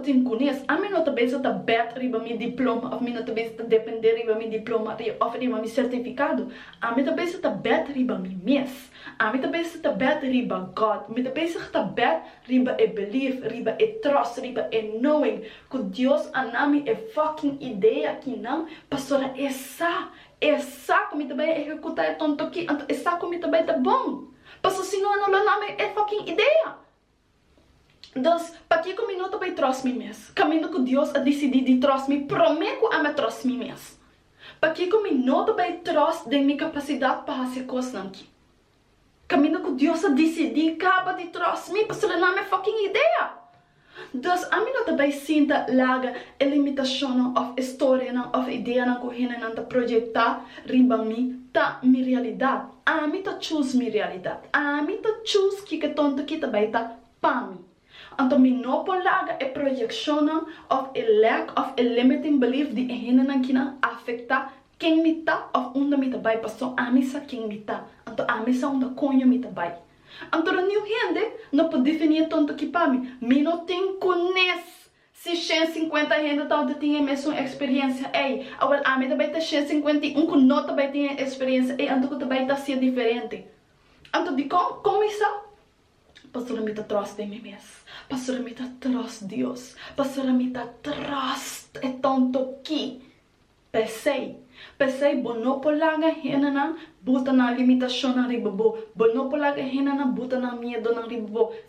tin kunes. Ami no ta bisa ta bèt riba mi diploma òf mi no ta bisa ta dependé riba mi diploma òf riba mi sertifikado. Ami ta bisa ta bèt riba mi mes. Ami ta bisa ta bèt riba God. Mi ta bisa ta bèt riba e belief, riba e trust, riba e knowing ku Dios a na mi e fucking idea akinan pasobra e sa, e sa ku mi ta bai a ehekutá e tonto akí. Anto e sa ku mi ta bai ta bon. Pasobra si no, a no lo na mi e fucking idea. Dos, pakico mi no ta bay trost mi mes, caminda cu Dios a dicidi di trost mi prome cu ami a trost mi mes? Pakico mi no ta bay trost den mi capacidad pa haci cosnan ki, caminda cu Dios a dicidi caba di trost mi pasobra nan mi fucking idea? Dos, ami no ta bay sinta laga e limitacionnan of e storianan of ideanan cu hendenan ta projecta riba mi ta mi realidad. Ami ta chus mi realidat. Ami ta chus kiko tonto ki ta bai ta pa mi. Anto mi no por laga e proyekshonnan òf e lèk òf e limiting belief di e hendenan kinan afektá ken mi ta òf unda mi ta bai paso ami sa ken mi ta. Anto ami sa unda koño mi ta bai. Anto roniu hende no por definí e tonto ki pa mi. Mi no tin kunes Si shen sinkuenta hende tabata tin e mesun eksperiencia ei, awor ami ta bai ta shen sinkuenta i un ku no ta bai tin e eksperiencia ei, anto ku ta bai ta hasia diferente? Anto dikon? Kon mi sa? Pastor mi ta tròst den mi mes. Pastor mi ta tròst Dios. Pastor mi ta tròst e tontoki. P'esei, p'esei bo no por laga hendenan buta nan limitashonnan riba bo. Bo no por laga hendenan buta nan miedonan riba bo.